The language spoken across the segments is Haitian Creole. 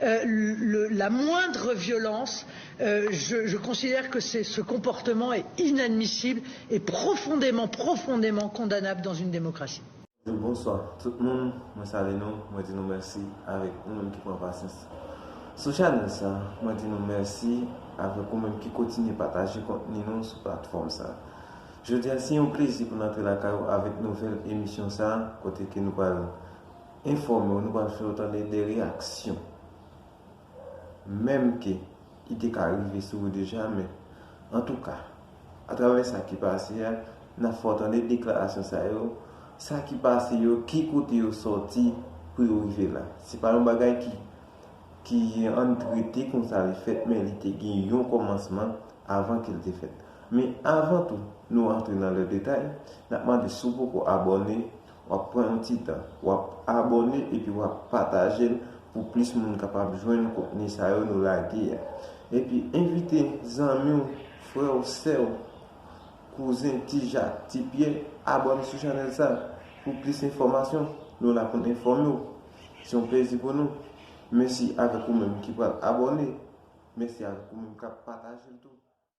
la moindre violence je considère que c'est ce comportement est inadmissible et profondément profondément condamnable dans une démocratie. Bonswa tout moun mwen salye nou mwen di nou mèsi avèk ou menm ki pran pasyans sou chanèl sa mwen di nou mèsi avèk ou menm ki kotinye pataje kontni nou sou platfòm sa jodi a se yon plezi pou n antre lakay ou avèk nouvèl emisyon sa kote ke nou pral Enfòme w nou pral fè w tande de reyaksyon menm ke ki te ka rive sou ou deja men antouka atravè sa ki pase a n ap fè w tande deklarasyon sa yo sa ki pase yo ki kote yo sòti pou yo rive la se pa yon bagay ki ki ann trete konsa li fèt men li te gen yon kòmansman avan ke l te fèt men avan tou nou antre nan lè detay n ap mande si w poko abòne Wap pran yon ti tan. Wap abone epi wap patajel pou plis moun kapab jwenn kontni sa yo nou lage a. Epi envite zanmiw, frèw, sèw, kouzen, ti jak, ti pyè abone sou chanèl sa pou plis enfòmasyon. Nou la poun enfòmew. Se yon plezi pou nou. Mesi avèk ou menm ki pral abone. Mesi avèk ou menm kap patajel tou.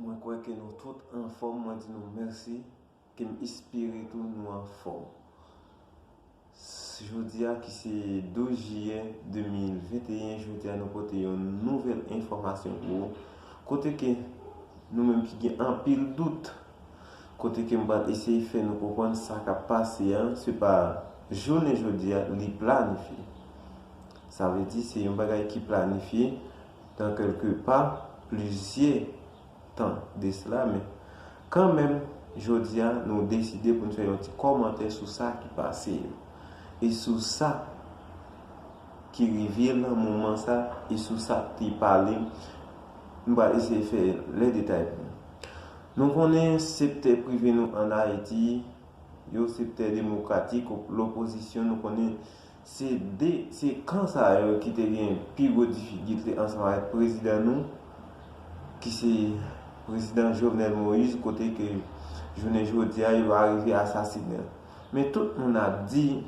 Mwen kwè ke nou tout anfòm mwen di nou mèsi ke m espere tou nou anfòm jodi a ki se 12 jiyè 2021 jodi a nou pote yon nouvèl enfòmasyon pou ou kote ke nou menm ki gen anpil dout kote ke m pral eseye fè nou konprann sa k ap pase a se pa jounen jodi a li planifye sa vle di se yon bagay ki planifye Dans quelque part, plizyè tan de cela, men kan menm jodi a nou deside pou n fè yon ti kòmantè sou sa ki pase yo, e sou sa ki rive lan moman sa, e sou sa k te pale, m pral eseye fè lè detay pou nou. Nou konnen sektè prive nou an Ayiti, yo sektè demokratik, lopozisyon nou konnen Se 2 se kan sa yo ki te gen pi gwo difikilte ansanm avèk prezidan nou ki se prezidan Jovenel Moïse kote ke jounen jodi a yo arive asasine l. Men tout moun ap di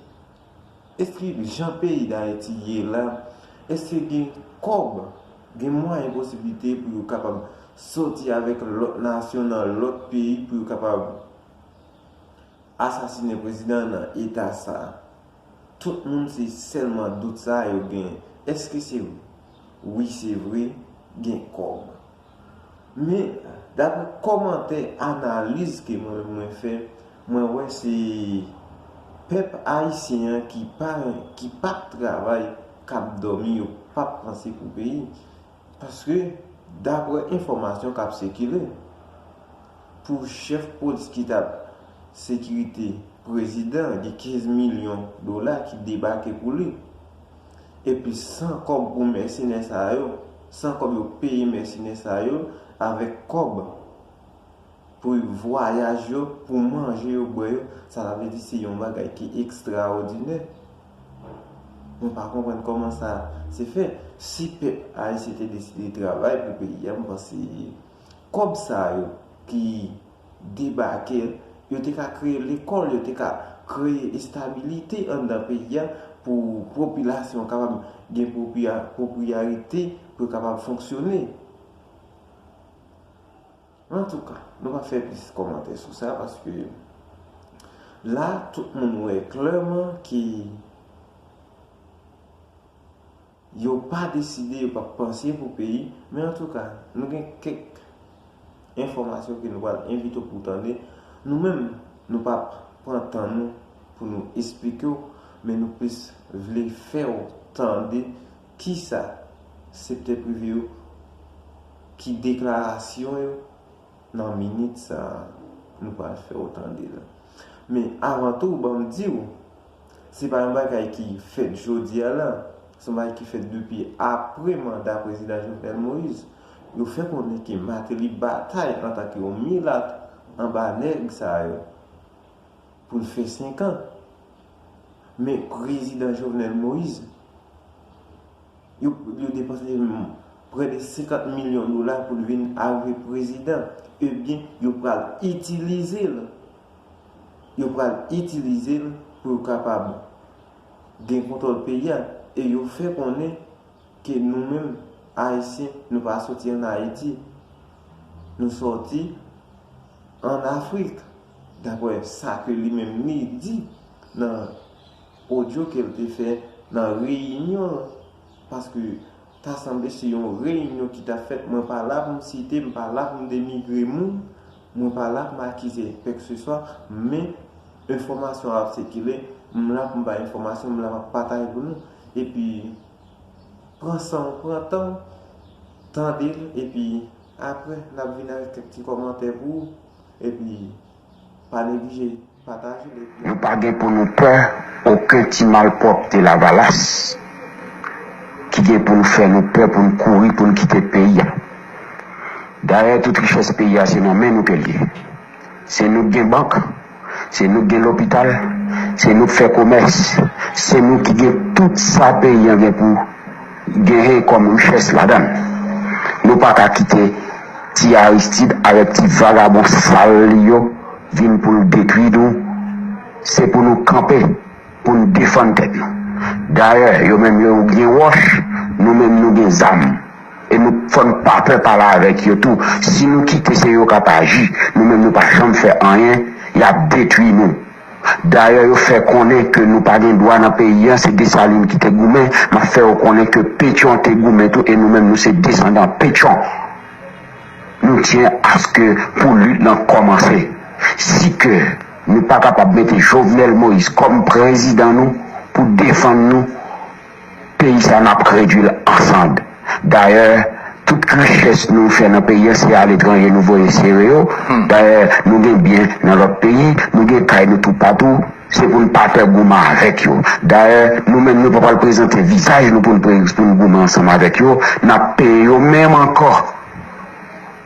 eske jan peyi Dayiti ye la eske gen kòb, gen mwayen posiblite pou yo kapab sòti avèk lòt nasyon nan lòt peyi pou yo kapab asasine prezidan nan eta sa. Tout moun se selman dout sa yo gen eske se vre wi se vre gen kob men dapre komantè analiz ke mwen mwen fè mwen wè se pèp ayisyen an ki pa ki pap travay kap domi yo pap panse pou peyi Paske, daprè enfòmasyon k ap sikile, pou chèf polis ki t ap sekirite prezidan an gen 15 milyon dola ki debake pou li. Epi san kòb pou mèsenè sa yo, san kòb yo peye mèsenè sa yo, avèk kòb pou vwayaj yo, pou manje yo, bwè yo, sa ta vle di se yon bagay ki ekstraòdinè. Mwen pa konprann koman sa se fè. Si pèp ayisyen te deside travay pou peyi a m panse kòb sa yo ki debake yo te ka kreye lekòl, yo te ka kreye estabilite anndan peyi a pou popilasyon an kapab gen pwopriyarite pou yo kapab fonksyone. Antouka, nou pa fè plis kòmantè sou sa paske la tout moun wè klèman ke yo pa deside, yo pa panse pou peyi. Men antouka, nou gen kèk enfòmasyon ke nou pral envite w pou w tande. Nou menm, nou pa p pran tan nou pou nou esplike w, men nou plis vle fè w tande Kisa sektè prive yo ki deklarasyon yo nan minit sa a nou pral fè ou tande la. Men avan tou ban m di ou, se pa yon bagay ki fèt jodi a la, se yon bagay ki fèt depi apre manda Prezidan Jovenel Moïse. Yo fè konnen ke Martelly batay antanke yon milat anba nèg sa yo. pou l fè 5 an. Men prezidan Jovenel Moise, yo depanse prè de 50 milyon dola pou l vin arive prezidan. Ebyen, yo pral itilize l. Yo pral itilize l pou yo kapab gen kontwòl peyi a. E yo fè konnen ke nou menm Ayisyen, nou pa soti ann Ayiti. Nou soti ann Afrik. Daprè sa ke li menm li di nan odyo ke l te fè nan reyinyon an, paske ta sanble se yon reyinyon ki ta fèt, mwen pa la pou m site, m pa la pou m denigre moun, mwen pa la pou m akize kpèkseswa, men enfòmasyon ap sikile, m la pou m bay enfòmasyon, m la pou m pataje pou nou. Epi, pran san w, pran tan w, tande l, epi apre n ap vini avèk kèk ti kòmantè pou ou. Epi pa neglije pataje l epi. Nou pa gen pou nou pè oken ti malpwòpte lavalas ki gen pou l fè nou pè pou n kouri pou n kite peyi a. Dayè tout richès peyi a se nan men nou ke l ye. Se nou k gen bank, se nou k gen lopital, se nou k fè komès, se nou ki gen tout sa peyi an gen pou. Genyen kòm richès ladann. Nou pa ka kite ti Aristide avèk ti vagabon sal li yo vin pou l detwi nou. Se pou nou kanpe pou n defann tèt nou. Dayè, yo menm yo gen wòch, nou menm nou gen zam. E nou fò n pa pè pale avèk yo tou. Si nou kite se yo k ap aji, nou menm nou pa janm fè anyen, y ap detwi nou. Dayè yo fè konnen ke nou pa gen dwa nan peyi an, se Desalin ki te goumen, m ap fè ou konnen ke Petyon te goumen tou e nou menm nou se desandan Petyon. Nou tyen aske pou lit lan kòmanse. Si ke nou pa kapab mete Jovenel Moïse kòm prezidan nou pou defann nou, Peyi sa nap k redwil an sand. Dayè tout richès nou fè nan peyi an se aletranje nou voye sere yo. Dayè nou gen byen nan lòt peyi, nou gen kay nou toupatou, se pou n pa pè goumen avèk yo. Dayè nou menm nou pa pral prezante vizaj nou pou n goumen ansanm avèk yo, nap peye yo menm ankò.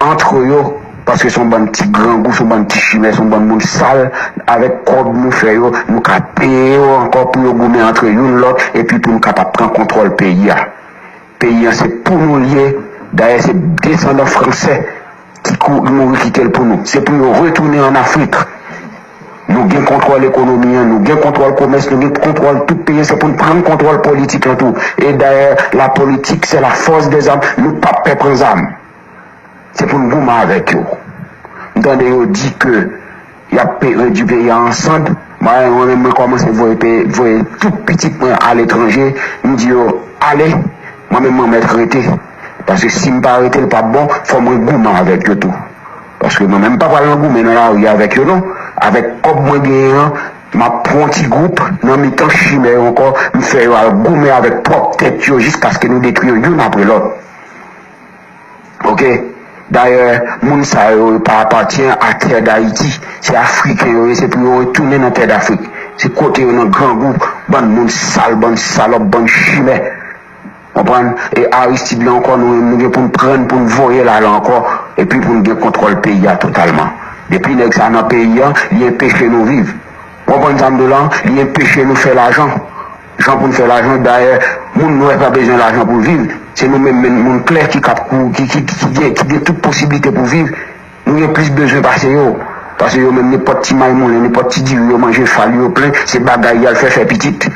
Antre yo, paske son bann ti grangou, son bann ti chimè, son bann moun sal, avèk kòb nou fè yo, nou ka peye yo ankò pou yo goumen antre youn lòt epi pou nou kapab pran kontwòl peyi a. Peyi an se pou nou l ye, dayè se desandan fransè ki mouri kite l pou nou. Se pou yo retounen an Afrik. Nou gen kontwòl ekonomi an, nou gen kontwòl komès, nou gen kontwòl tout peyi an, se pou n pran kontwòl politik lan tou. E dayè, la politik se la fòs dè zam, nou p ap pè pran zam. Se pou n goumen avèk yo. M tande yo di ke y ap pe redui peyi a an sand, mwen menm mwen kòmanse voye pe voye tout pitit mwen aletranje, m di yo ale, mwen menm mwen mèt rete. Paske si m pa rete l p ap bon, fò mwen goumen avèk yo tou. Paske mwen menm m pa pral nan goumen nan lari avèk yo non. Avèk kòb mwen genyen an, m ap pran yon ti gwoup nan mitan chimè yo ankò, m fè yo al goumen avèk pwòp tèt yo jiskaske nou detwi yo youn apre lòt. Oke. Dayè, moun sa yo, yo pa apatyen a tè Dayiti. Se Afriken yo ye, se pou yo retounen nan tè Dafrik. Se kote yo nan grangou, bann moun sal, bann salòp, bann chimè. Konprann? E Aristide lan ankò nou menm nou gen pou n pran n pou n voye l ale ankò epi pou n gen kontwòl peyi a totalman. Depi nèg sa nan peyi an, li enpeche nou viv. Ou konprann sa m di w lan? Li enpeche nou fè lajan. Jan pou n fè lajan, dayè moun nwè pa bezwen lajan pou l viv. Se nou menm menn moun klè ki kap ki gen tout posiblite pou viv Nou gen plis bezwen pase yo. Pase yo menm nenpòt ti may moulen, nenpòt ti diri yo manje fal yo plen, se bagay y al fè fè pitit.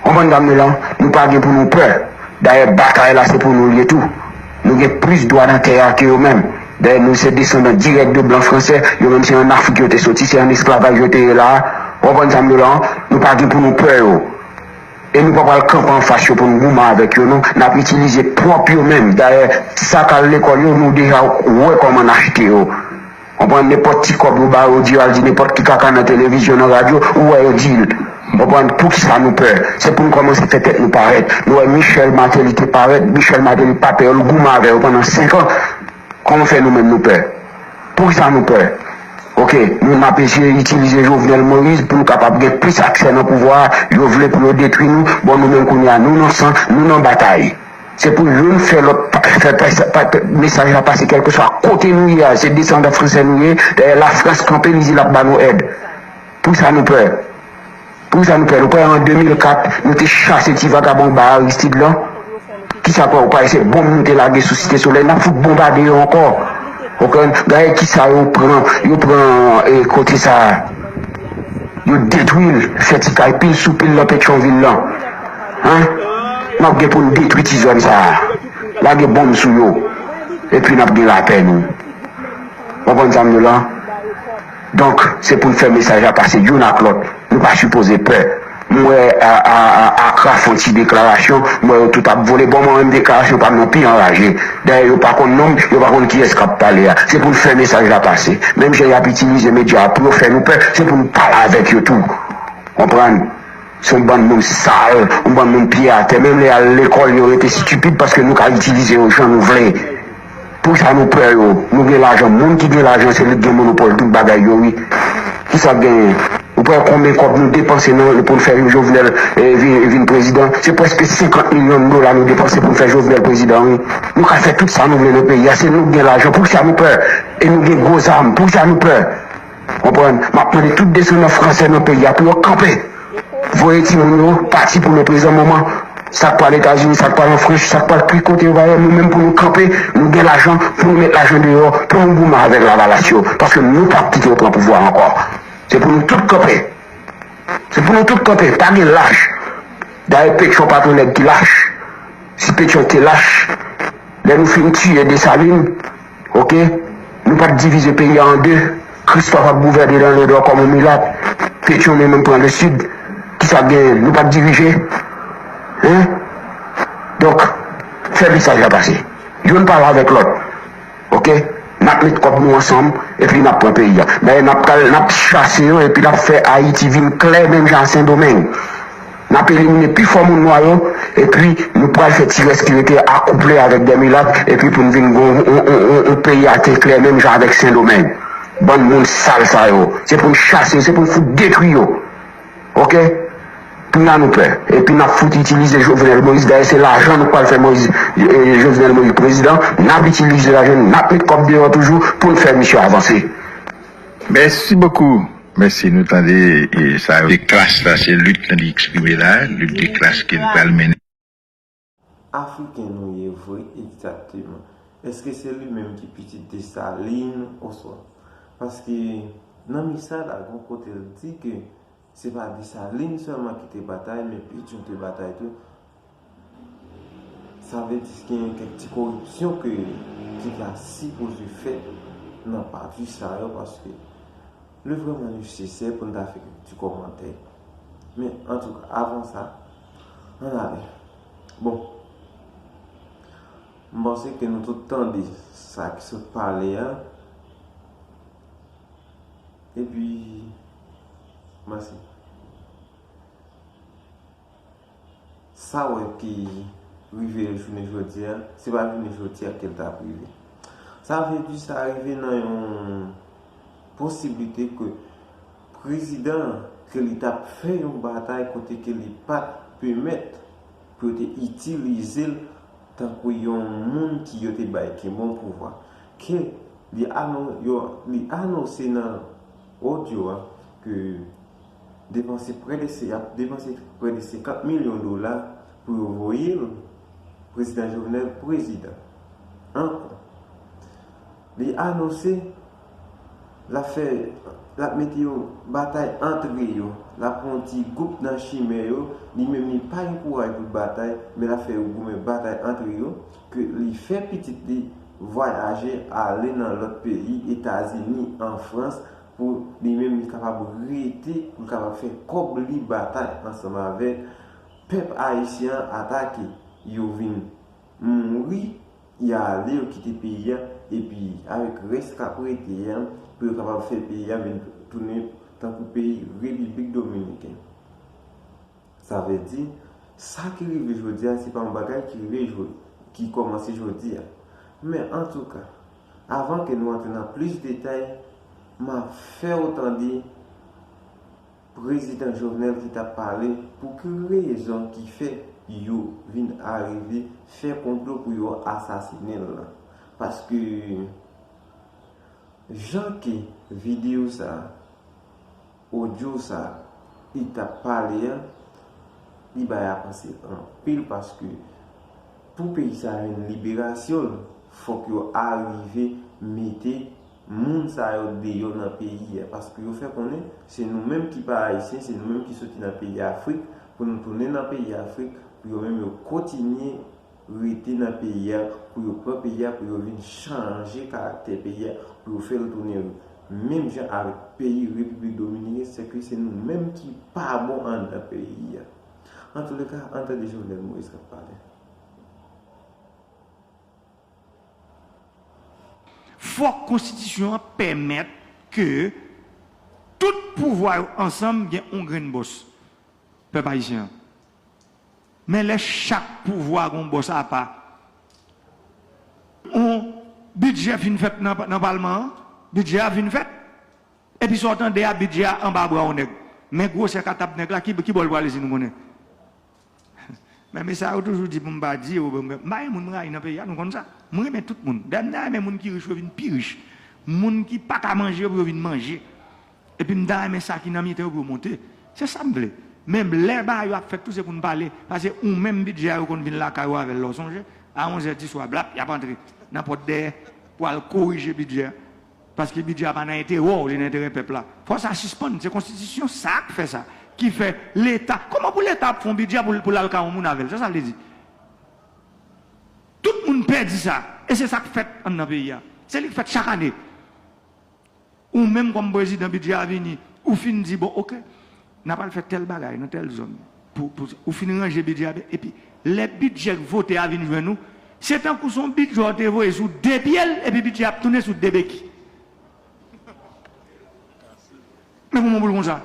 Konprann dam yo lan? Nou pa gen pou nou pè. Dayè batay la se pou nou l ye tou. Nou gen plis dwa nan tè a ke yo menm. Dayè nou se desandan dirèk de blan fransè, yo menm se an Afrik yo te soti, se an esklavaj yo te ye la a. Ou konprann sa m di w lan? Nou pa gen pou nou pè yo. E nou pa pral kanpe anfas yo pou n goumen avèk yo non. N ap itilize pwòp yo menm. Dayè, sak al lekòl yo, nou deja wè kòman n achte yo. Konprann? Nenpòt ti kòb yo ba yo, di yo al di nenpòt ki kaka nan televizyon, nan radyo, ou wè yo di l. Konprann? Pou ki sa nou pè? Se pou n kòmanse fè tèt nou parèt. Nou wè Michèl Mateli te parèt. Michèl Mateli pa pè yo. L goumen avè yo pandan senkan. Koman fè nou menm nou pè? Poukisa nou pè? Ok, nou menm ap eseye itilize Jovenel Moïse pou nou kapab gen plis aksè nan pouvwa a, yo vle pou yo detwi nou, bon nou menm kounye a nou nan san, nou nan batay. Se pou youn fè lòt fè mesaj la pase kèlkeswa kote nou ye a, se desandan fransè nou ye, dayè Lafrans kanpe li di l ap ba nou èd. Poukisa nou pè? Poukisa nou pè nou kwè an 2004 nou te chase ti vagabon ba Aristide lan kisa kwè ou kwè se bonm nou te lage sou site solèy nap fout bonbade yo ankò ou konprann gade kisa yo pran yo pran kote sa yo detwil fè ti kay pil sou pil nan petronvil lan an nap gen poun detwi ti zòn sa lage bonm sou yo epi nap gen lapè nou ou konprann sa mdi w lan Donk se poun fè mesaj la pase youn ak lòt, nou pa sipoze pè. M wè Acra fon ti deklarasyon, m wè yo tout ap vole, bon mwen menm deklarasyon pam nan pi anraje. Dayè yo pa konn nonm, yo pa konn kiyès kap pale a. Se poun fè mesaj la pase. Menm jan yap itilize medya a pou yo fè nou pè, se poun pale avèk yo tou. Konprann? Se yon bann moun sal, yon bann moun pye atè, menm lè yal lekòl yo rete stupid paske nou ka itilize yo jan nou vle. Pousa nou pè yo nou gen lajan moun ki gen lajan se li ki gen monopòl tout bagay yo wi kisa genyen ou pè konbyen kòb nou depanse nan poun fè yon jovenel vin prezidan se prèske 50 milyon dola nou depanse poun fè jovenel prezidan wi nou ka fè tout sa nou vle nan peyi a se nou ki gen lajan poukisa nou pè e nou gen gwo zam poukisa nou pè. Konprann, map mande tout desandan fransè nan peyi a pou yo kanpe, voye timoun yo pati pou le prezan moman, sak pral etazini, sak pral an franch, sak pral krik kote yo va yo, nou menm pou nou kanpe, nou gen lajan pou nou met lajan deyò pou nou goumen avèk lavalas yo, paske nou pap kite yo pran pouvwa ankò, se pou nou tout kanpe, se pou nou tout kanpe, pa gen lach, dayè petyon pa ton nèg ki lach, si petyon te lach, lè nou fin tiye desalin. Ok Nou pap divize peyi a an 2 Christophe ap gouvène nan le nord kòm yon milat Petion li menm pran le sud Kisa k genyen Nou pap dirije Hein Donk Fè mesaj la pase Youn pale avèk lòt Ok Nap met kòb nou ansanm Epi nap pran peyi a Dayè nap pral nap chase yo epi nap fè Haïti vin klè menm jan a sendomeng. N ap elimine pi fò moun nwa yo epi nou pral fè ti rès ki rete yo akouple avèk dè milat epi pou n vin gen yon peyi ate klè menm jan avèk sendomeng bann moun sal sa yo se pou n chase yo se pou n fout detwi yo ok kounya nou pè epi n ap fout itilize jovenel moïse dayè se lajan nou pral fè moïse jovenel moïse prezidan n ap itilize lajan n ap met kòb deyò toujou pou n fè misye avanse. Mèsi bokou mèsi nou tande sa yo. De klas la se lit li eksprime la lit de klas ke li pral mennen. Afriken nou ye vre egzakteman. Eske se li menm ki pitit Dessalines oswa. Paske nan mesaj la gon kote l di ke Se pa Desalin sèlman ki te batay, men Pétion te batay tou. Sa vle di genyen kèk ti koripsyon ke ki ta sipoze fèt nan pati sa yo paske li vrèman nesesè pou n ta fè kèk ti kòmantè. Men, antouka, avan sa, ann ale. Bon, m panse ke nou tout tande sa ki sot pale a, epi. Mèsi. Sa wè ki rive l jounen jodi a, se pa jounen jodi a ke l ta rive. Sa vle di sa rive nan yon posiblite ke prezidan an, ke li ta fè yon batay kote ke li pa t pèmèt pou yo te itilize l tankou yon moun ki yo te bay ki bon pouvwa. Ke li anonse nan. Odyo a, ke depanse prè de se ap depanse prè de 50 milyon dola pou yo voye l, Prezidan Jovenel prezidan ankò. Li anonse l ap fè l ap mete yon batay antre yo, l ap pran yon ti gwoup nan chimè yo, li menm li pa gen kouraj pou l batay men l ap fè yo goumen batay antre yo. ke li fè pitit li vwayaje ale nan lòt peyi, Etazini, an Frans, pou li menm li kapab rete, pou l kapab fè kòb li batay ansanm avèk pèp ayisyen an ata ke yo vin mouri, y a ale, yo kite peyi a, epi avèk rès k ap rete a, pou yo kapab fè peyi a vin tounen tankou peyi Repiblik Dominiken. Sa vle di, sa ki rive jodi a se pa yon bagay ki rive jodi, ki kòmanse jodi a. Men antouka, avan ke nou antre nan plis detay, m ap fè ou tande Prezidan Jovenel ki t ap pale pou ki rezon ki fè yo vin arive fè konplo pou yo asasinen l lan. Paske, jan ke videyo sa a. Audio sa li tap pale an li bay avanse anpil paske pou peyi sa jwenn liberasyon l fok yo arive mete moun sa yo deyo nan peyi a paske yo fè konnen se nou menm ki pa ayisyen se nou menm ki soti nan peyi afrik pou nou tounen nan peyi afrik pou yo menm yo kontinye rete nan peyi a pou yo pran peyi a pou yo vin chanje karaktè peyi a pou yo fèl tounen menm jan avèk peyi repiblik dominiken sèke se nou menm ki pa bon anndan peyi a antoulèka an tande jovenel moïse kap pale. Fòk konstitisyon an pèmèt ke tout pouvwa yo ansanm gen yon grenn bòs pèp ayisyen an Men lè chak pouvwa gon bòs apa. On bidjè fin fèt nan palman an, bidjè a fin fèt. Epi sa w tande a bidjè a anba bra on nèg. Men gwosè katab nèg la ki bò l prale si nou konnen. Men me sa yo toujou di pou m pa di yo, m pa gen moun m rayi nan peyi a nou konn sa. M renmen tout moun. Dayè m ta renmen moun ki rich yo vin pi rich. Moun ki pa ka manje pou yo vin manje. Epi m ta renmen sa ki nan miten yo pou yo monte. Se sa m vle. Men lè bagay yo ap fèt tou se pou n pale. Pase ou menm bidjè a yo konn vin lakay ou avè l lè w sonje. A onzè diswa blap y ap antre nan pòt dèyè pou al korije bidjè a. Paske bidjè a pa nan enterè w, li nan enterè pèp la. Fò sa sispann. Se konstitisyon sa k fè sa. Ki fè leta. Kòman pou leta ap fè yon bidjè pou l al kay yon moun avè l? Se sa l vle di. Tout moun pè di sa. E se sa k fèt an nan peyi a. Se li k fèt chak ane. Ou menm kòm prezidan bidjè a vini ou fin di bon ok n apral fè tèl bagay nan tèl zòn pou ou fin ranje bidjè a epi lè bidjè k vote a vin jwenn ou se tankou son bidjè w te voye sou de pye l epi bidjè a ap tounen sou de beki men kouman pou l konsa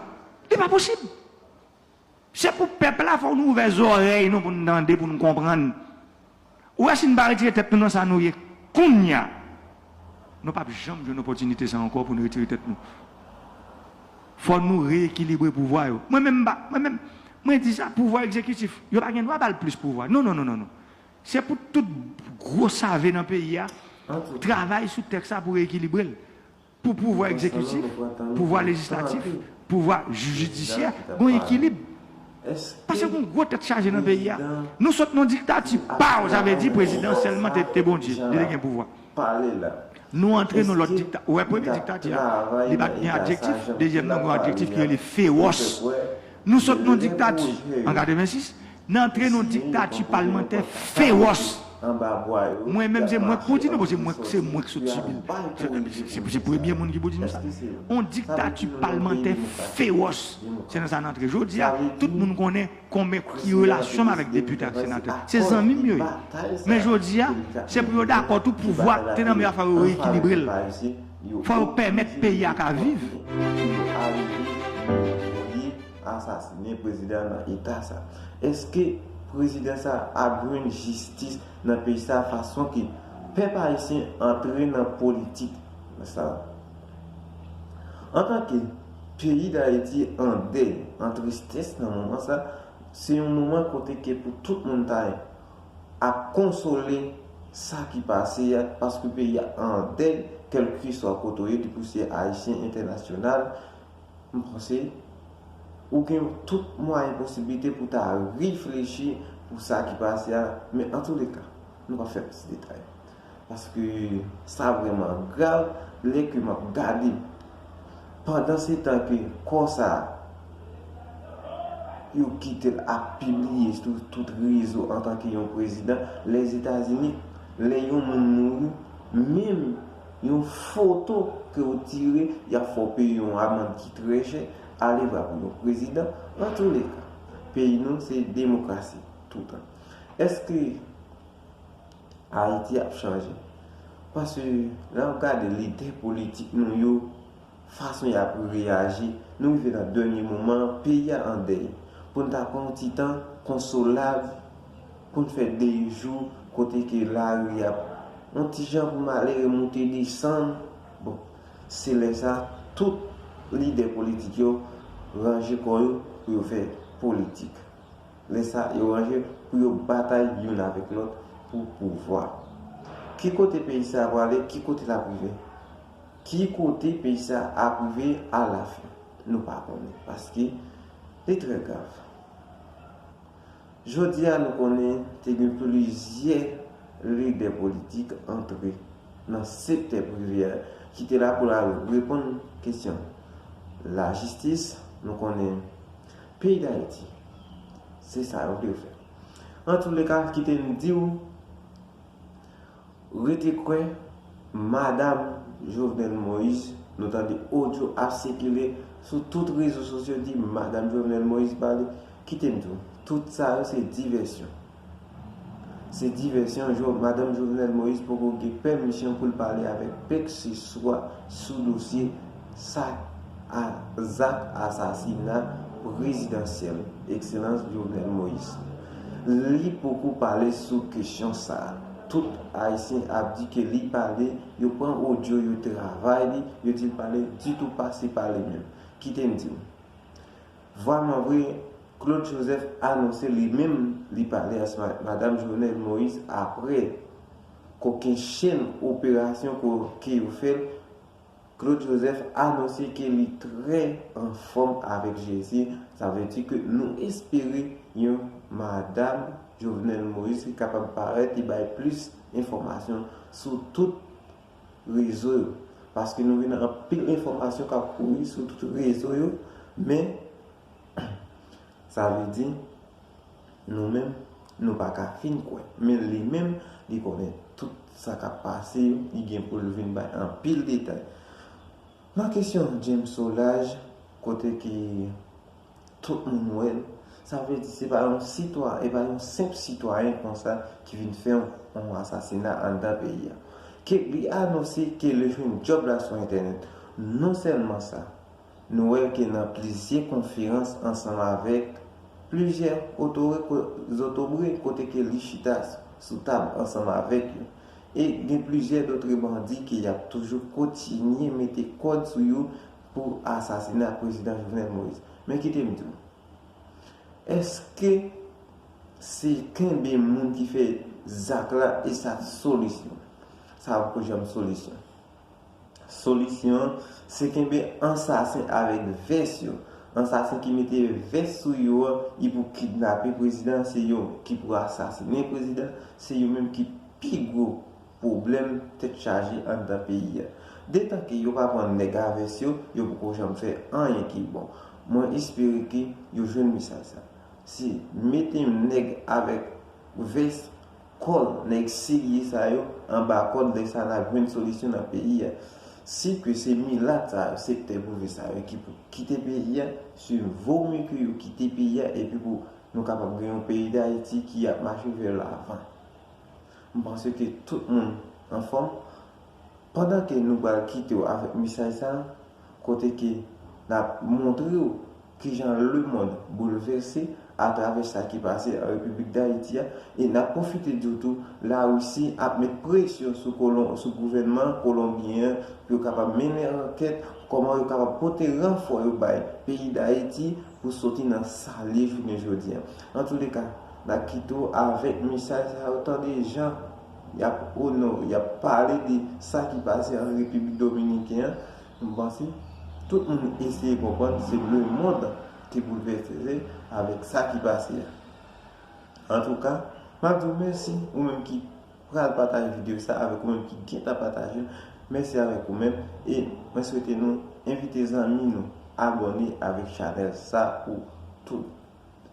li pa posib. Se pou pèp la fòk nou ouvè zòrèy nou pou nou tande pou nou konprann ou wè si nou pa retire tèt nou nan sa nou ye kounya nou pap janm jwenn opòtinite sa ankò pou nou retire tèt nou fòk nou reyekilibre pouvwa yo mwen menm mpa mwen menm mwen di sa pouvwa egzekitif yo pa gen dwa bal plis pouvwa non non non non se pou tout gwo save nan peyi a travay sou tèks sa pou reyekilibrel. Pou pouvwa egzekitif, pouvwa lejislatif, pouvwa jidisyè gon ekilib. Pase gon gwo tèt chaje nan peyi a. Nou sot nan diktati paw sa vle di prezidan sèlman te Bondye, li te gen pouvwa. Nou antre nan lòt diktati, ou wè premye diktati a li pat gen adjektif, dezyèm nan gon adjektif ki rele fewòs. Nou sot nan diktati an 86, Nan antre nan yon diktati palmantè fewòs. Mwen menm se mwen k pou di nou paske se mwen k sot sibi l. Se premye moun ki pou di nou sa. Yon diktati palmantè fewòs. Se nan sa n antre jodi a. Tout moun konnen konben ki relasyon m avèk depite ak senatè. Se zanmi m yo ye. Men jodi a, se pou yo dakò tou pouvwa k te nan men yo a fò yo reyekilibre l. Fò yo pèmèt peyi a ka viv. asasine prezidan nan eta sa eske prezidan sa ap jwenn jistis nan peyi sa fason ke pèp ayisyen antre nan politik sa antanke peyi dayiti an dèy an tristès nan moman sa se yon moman kote ke pou tout moun ta ap konsole sa ki pase ya paske peyi ya an dèy kelkeswa kote ou ye depi ou se ayisyen entènasyonal M panse Ou gen tout mwayen posiblite pou ta reflechi pou sa ki pase a men antoulèka nou pa fè plis detay paske sa vrèman grav lè ke map gade pandan se tan ke kò sa yo kitel ap pibliye sou tout rezo antanke yon prezidan lèzetazini lè yon moun mouri menm Yon foto ke ou tire, yap fè w peye yon amand ki trè chè, alevwa pou yon prezidan. Antoulèka, peyi nou se demokrasi toutan. Eske Ayiti ap chanje? Paske lè wap gade lidè politik nou yo. fason yap reyaji nou rive nan dènye moman an peyi a an dèy pou n ta pran yon ti tan konsolab pou n fè dèy jou kote ke lari ap yon ti jan pou malere moute desann bon se lè sa tout lidè politik yo ranje kò yo pou yo fè politik lè sa yo ranje pou yo batay youn avèk lòt pou pouvwa ki kote peyi sa a prale ki kote lap rive. Ki kote peyi sa ap rive a la fin? Nou pa konnen. Paske li trè grav. Jodi a nou konnen te gen plizyè lidè politik antre nan sektè prive a ki te la pou l al reponn kesyon lajistis. Nou konnen peyi Dayiti se sa yo dwe fè. Antouleka kite m di w. Rete kwè madam Jovenel Moïse nou tande odyo ap sikile sou tout rezo sosyo di madam Jovenel Moïse pale kite m di w tout sa yo se divèsyon se divèsyon madam Jovenel Moïse poko gen pèmisyon pou l pale avèk pèkseswa sou dosye sa a zak asasina prezidansyèl Ekselans Jovenel Moïse. Li poko pale sou kesyon sa a. Tout Ayisyen ap di ke li pale, yo pran odyo, yo travay li, yo di l pale, ditou pa se pale menm. Kite m di w. Vwaman vre, Claude Joseph anonse li menm li pale as Madam Jovenel Moïse apre kokennchenn operasyon ke yo fè l, Claude Joseph anonse ke li trè an fòm avèk Jezi, sa vle di ke nou espere yon Madam Jovenel Moïse ki kapab parèt e bay plis enfòmasyon sou tout rezo yo. Paske nou gen anpil enfòmasyon k ap kouri sou tout rezo yo men sa vle di. Nou menm, nou pa ka fin kwè. Men li menm, li konnen tout sa k ap pase yo, li gen pou l vin bay anpil detay. Nan kesyon James Solaj, kote ke tout moun wè l, sa vle di se pa yon sitwa, e pa yon senp sitwayen konsa ki vin fè yon asasina anndan peyi a. Ke li anonse ke l jwenn djòb la sou entènèt. Non sèlman sa. Nou wè ke nan plizyè konferans ansanm avèk plizyè otoriko zotobre kote ke li chita sou tab ansanm avèk yo. E gen plizyè dotre bandi ke yap toujou kotinye mete kòd sou yo pou asasina Prezidan Jovenel Moïse. Men kite m di w, eske se kenbe moun ki fè zak la e sa solisyon? Sa poko janm solisyon. Solisyon an se kenbe ansasen avèk vès yo. Ansasen ki mete vès sou yo an y pou kidnape prezidan an se yo ki pou asasinen prezidan se yo menm ki pi gwo pwoblèm tèt chaje anndan peyi a. Detan ke yo pa pran nèg a vès yo, yo poko janm fè anyen ki bon. Mwen espere ke yo jwenn mesaj sa. Se mete nèg avèk vès Kòl nèg serye sa yo anba kòd lè sa nap jwenn solisyon nan peyi a. Si ke se milat sa yo sektè prive sa yo ki pou kite peyi a se vo mye ke yo kite peyi a epi pou nou kapab gen yon peyi dayiti ki ap mache vè lavan. M panse ke tout moun anfòm. Pandan ke nou pral kite w avèk mesaj sa kote ke n ap montre w ki jan lemonn boulvèse atravè sa ki pase an Repiblik Dayiti a, e n ap pwofite di w tou Larisi ap met presyon sou kolon, sou gouvènman kolonbyen an pou yo kapab mennen ankèt kòman yo kapab pote ranfò yo bay peyi Dayiti pou soti nan sa l ye jounen jodi an. Antouleka, n ap kite w avèk mesaj sa yo tande jan. Y ap onore, y ap pale de sa ki pase an Repiblik Dominiken an. M panse tout moun eseye konprann se lemonn ki boulvèse avèk sa ki pase a. Antouka, m ap di w mèsi ou menm ki pral pataje videyo sa avèk ou menm ki gentan pataje l. Mèsi avèk ou menm e mwen swete nou envite zanmi nou abòne avèk chanèl sa pou tout.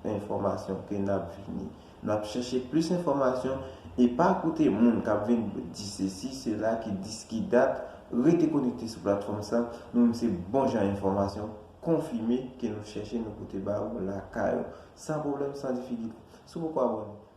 enfòmasyon ke nap vini. Nap chèche plis enfòmasyon e pa koute moun kap vin di sesi sela ki dis ki dat, rete konekte sou platfòm sa, nou menm se bon jan enfòmasyon konfime ke nou chèche nou pote ba ou lakay ou san pwoblèm san difikilte. Si w poko abòne,